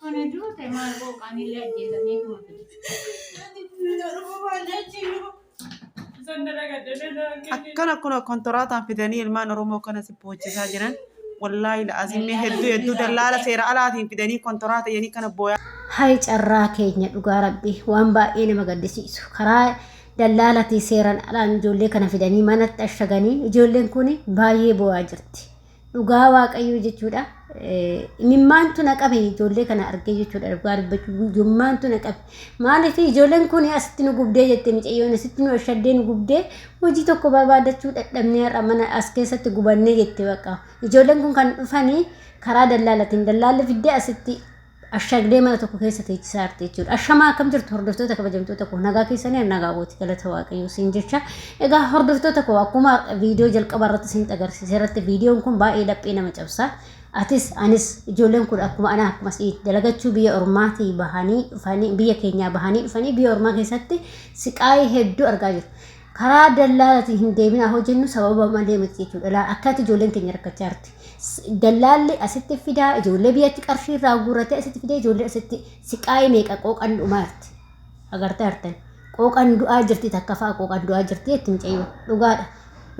Tuni duute maal qooqaan illee ajjeesanii kuma Akkana kun kontoraataan fidanii ilmaan Oromoo kana si boochisaa jiran. Wallaahi la'azimmee hedduu hedduu dallaala seera alaatiin fidanii kontoraata jedhanii kana booyaa. Hay carraa keenya dhugaa rabbi waan baay'ee nama gaddisiisu karaa dallaalatii seeran alaan ijoollee kana fidanii manatti ashaganii ijoolleen kun baay'ee boo'aa jirti. dhugaa waaqayyoo jechuudha. Imimmaantu na qabe ijoollee kana argee jechuudha dhugaa dubbachuu imimmaantu na qabe. Maaliif ijoolleen kun asitti nu gubdee jette micayyoon asitti nu ashaddee nu gubdee hojii tokko barbaadachuu dadhabnee har'a mana as keessatti gubannee jette bakka. Ijoolleen kun kan dhufanii karaa dallaalatiin dallaalli fiddee asitti Ashaagdee mana tokko keessa teechisa aarti jechuudha. Ashamaa akkam jirtu hordoftoota kabajamtoota koo nagaa keessanii nagaa gooti galata waaqayyoo siin jecha. Egaa hordoftoota koo akkuma viidiyoo jalqaba irratti siin agarsiise irratti viidiyoon kun baay'ee laphee nama cabsa. Atis anis ijoolleen kun akkuma anaa akkuma si'i dalagachuu biyya ormaatii bahanii dhufanii biyya keenyaa bahanii dhufanii biyya ormaa keessatti siqaayii hedduu argaa jiru. karaa dallaalatiin hin deebinaa hoo jennu sababa malee miti jechuudha. Laal akkatti ijoolleen keenya rakkachaa jirti. S- Dallaalli asitti fidaa ijoollee biyyatti qarshii irraa guurratee asitti fidee ijoollee asitti siqaa'ee meeqa qooqan dhumaa jirti. Agartee artan qooqan du'aa jirti takka fa'a qooqan du'aa jirti jetti mucayyoo dhugaadha.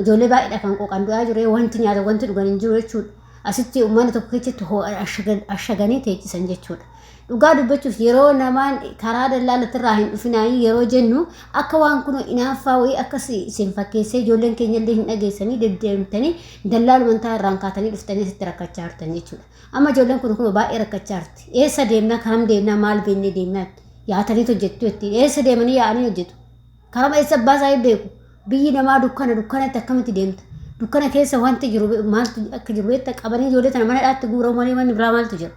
Ijoollee baay'eedha kan qooqan du'aa jiru wanti nyaata wanti dhugan hin jiru jechuudha. Asitti uummanni tokko keessatti hoo ashagan- ashaganii teechisan jechuudha. Dhugaa dubbachuuf yeroo namaan karaa dallaa latirraa hin dhufinaayii yeroo jennu akka waan kun inaaffaa wayii akka si- isin fakkeessee ijoolleen keenya illee hin dhageessanii deddeemtanii dallaa lumantaa irraan kaatanii dhuftanii asitti rakkachaa jirtan jechuudha. Amma ijoolleen kun kun baay'ee rakkachaa jirti. Eessa deemnaa karam deemnaa maal beennee deemnaa yaatanii hojjettu jetti. Eessa deemanii yaa'anii hojjetu. Karuma eessa abbaa isaa hin beeku. Biyyi namaa dukkana dukkanatti akkamitti deemta? Dukkana keessa wanti jiru be- maaltu akka jiru beekta qabanii ijoollee tana mana dhaatti guurau malee manni biraa maaltu jira?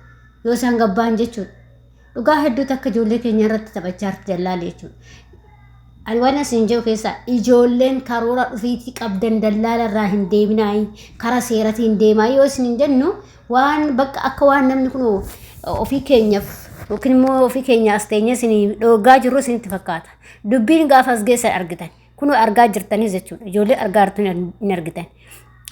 Yoo isaan gabbaan jechuudha. Dhugaa hedduutu akka ijoollee keenya irratti taphachaa jirti dallaalli jechuudha. Ani waan isin jedhu keessaa ijoolleen karoora dhufiitii qabdan dallaala irraa hin deeminaayi karaa seeratii hin deemaa yoo isin hin jennu waan bakka akka waan namni kun ofii keenyaaf yookiin immoo ofii keenya as teenyee isin dhoogaa jirru isinitti fakkaata. Dubbiin gaafa as geessan argitan. Kunoo argaa jirtanii jechuudha. Ijoollee argaa jirtanii hin argitan.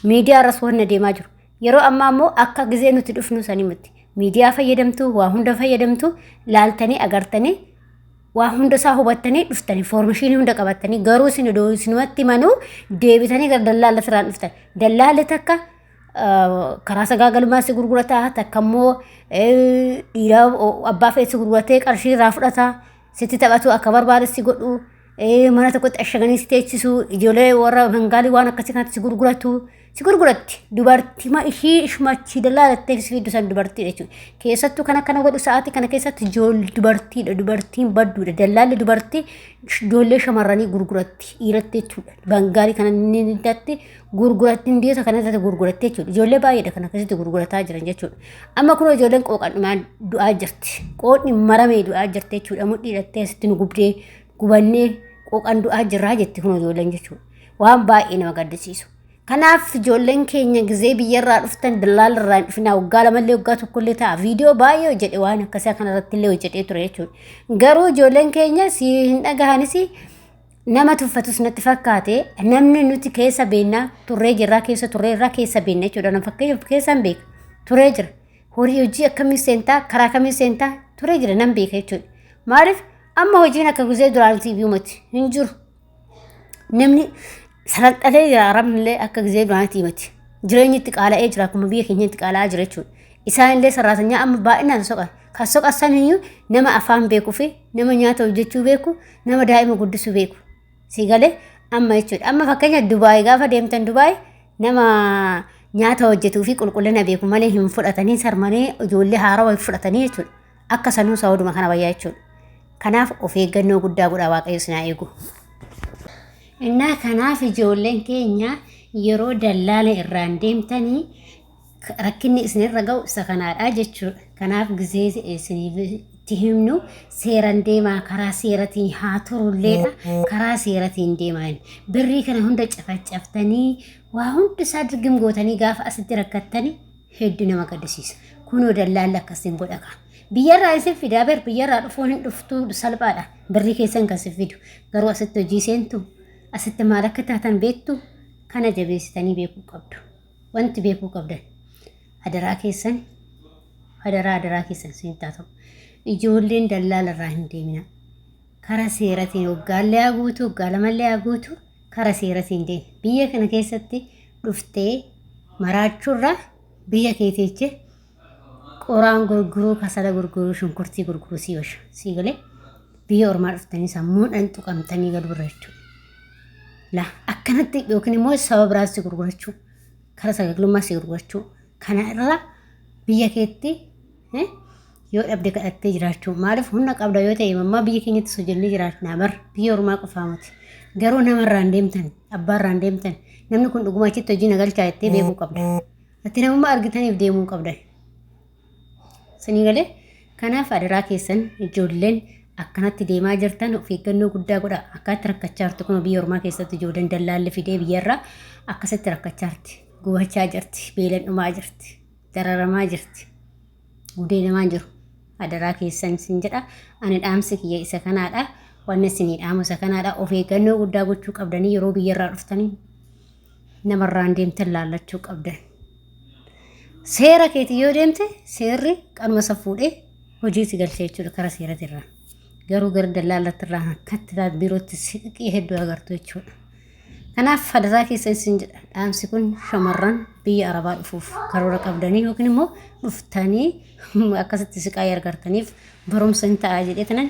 Miidiyaa irras waan adeemaa jiru. Yeroo ammaa immoo akka gizee nuti dhufnu sanii miti. Miidiyaa fayyadamtu, waa hunda fayyadamtu, laaltanii agartanii waa hunda isaa hubattanii dhuftanii foormishinii hunda qabattanii garuu isin odoo isinumatti manuu deebitanii gara dallaala siraan dhuftan. Dallaalli takka ah, karaa sagaagalummaa si gurgurata takka immoo eh, dhiira o- abbaa fedhe si gurguratee qarshii irraa fudhata. sitti taphatuu akka barbaade si godhu ee, mana tokkotti ashaganii si teechisu ijoollee warra bengaalii waan akkasii kanatti si gurguratu si gurguratti dubartii ma ishii ishumachii dallaa jettee si fiddu san dubartii jechuudha keessattuu kan akkana godhu sa'aatii kana keessatti ijool dubartiidha dubartiin badduudha dallaalli dubartii ijoollee shamarranii gurguratti dhiiratti jechuudha bengaalii kana ni datti gurgurattiin biyyoota kana irratti gurgurattee jechuudha. Ijoollee baay'eedha kan akkasitti gurgurataa jiran jechuudha. Amma kun ijoolleen qooqan dhumaan du'aa jirti. Qoodni maramee du'aa jirti jechuudha. Mudhii hidhattee asitti nu gubdee gubannee qooqan du'aa jirraa jetti kun ijoolleen jechuudha. Waan baay'ee nama gaddisiisu. Kanaaf ijoolleen keenya gizee biyyarraa dhuftan dallaala irraa hin dhufinaa waggaa lamallee waggaa tokkollee ta'a viidiyoo baay'ee hojjedhe waan akkasii kanarratti illee hojjedhee ture jechuudha. Garuu ijoolleen keenya si hin dhagahanis nama tuffatus natti fakkaate namni nuti keessa beennaa turree jirraa keessa turree irraa keessa beenna jechuudha nama fakkeenyaaf keessaan beeka turee jira horii hojii akkamii seentaa karaa kamii seentaa turee jira nan beeka jechuudha maaliif amma hojiin akka guzee duraan tiiviimati hin jiru namni salalxalee jira arabnillee akka gizee duraan tiimati jireenyi itti qaala'ee jira akkuma biyya keenyatti qaala'aa jira jechuudha isaanillee sarraatanyaa amma baay'inaan soqan kan soqan saniyyuu nama afaan beekuu fi nama nyaata hojjechuu beeku nama daa'ima guddisuu beeku si galee amma jechuudha amma fakkeenya dubaay gaafa deemtan dubaay nama nyaata hojjetuu fi qulqullina beeku malee hin fudhatanii sarmanii ijoollee haarawa hin fudhatanii jechuudha akka sanuu saawuduma kana bayyaa jechuudha kanaaf of eeggannoo guddaa godhaa waaqayyo sinaa eegu. Innaa kanaaf ijoolleen keenya yeroo dallaala irraan deemtanii rakkinni isinirra ga'u isa kanaadha jechuudha. Kanaaf gizee isiniif itti himnu seeran deemaa karaa seeratiin haa turulleedha. Karaa seeratiin deemaa inni. Birrii kana hunda cafacaftanii waa hundi isaa dirgim gootanii gaafa asitti rakkattanii hedduu nama gaddisiisa. Kunoo dallaalli akkasiin godha kaa. Biyyarraa isin fidaa bar biyyarraa dhufuun hin dhuftuu salphaadha. Birrii keessan kan isin fidu. Garuu asitti hojii seentu asitti maal akka taatan beektu kana jabeessitanii beekuu qabdu. wanti beekuu qabdan adaraa keessan adaraa adaraa keessan sinittaa ta'u ijoolleen dallaala irraa hin deemina kara seeratiin hoggaallee haa guutuu hoggaalamallee haa guutuu kara seeratiin deema biyya kana keessatti dhuftee maraachuurraa biyya keetiichi qoraan gurguruu kasala gurguruu shunkurtii gurguruu sii washa sii galee biyya ormaa dhuftanii sammuudhaan tuqamtanii gad birra jechuudha. La akkanatti yookiin immoo saba biraas si gurgurachuu kara sagaglummaa si gurgurachuu kana irraa biyya keetti eh, yoo dhabde kadhattee jiraachuu maaliif humna qabda yoo ta'e mammaa biyya keenyatti sojoonnee jiraatnaa bar biyya ormaa qofaa miti garuu namarraan deemtan abbaarraan deemtan namni kun dhuguma achitti hojii nagalchaa jettee beekuu qabda. Ati namummaa argitaniif deemuu hin qabdan. Sinii galee kanaaf adaraa keessan ijoolleen akkanatti deemaa jirtan of eeggannoo guddaa godha. Akkaatti rakkachaa jirtu kun biyya ormaa keessatti ijoolleen dallaalli fidee biyyarraa akkasitti rakkachaa jirti. Gubachaa jirti. Beelan dhumaa jirti. Dararamaa jirti. Gudeedamaa jiru. Adaraa keessan sin jedha. Ani dhaamsi kiyya isa kanaadha. Wanni isinii dhaamu isa kanaadha. Of eeggannoo guddaa gochuu qabdanii yeroo biyyarraa dhuftanii namarraan deemtan laallachuu qabdan. Seera keetiin yoo deemte seerri qarma san fuudhee hojiitti galchee jechuudha karaa seerati irraa. Garuu gara dallaalatti irraa akkatti taate birootti siqii hedduu agartu jechuudha. Kanaaf fadataa keessa isin jedha. Dhaamsi kun shamarran biyya Arabaa dhufuuf karoora qabdanii yookiin immoo dhuftanii akkasitti siqaa argartaniif barumsa hin ta'a jedhee tanan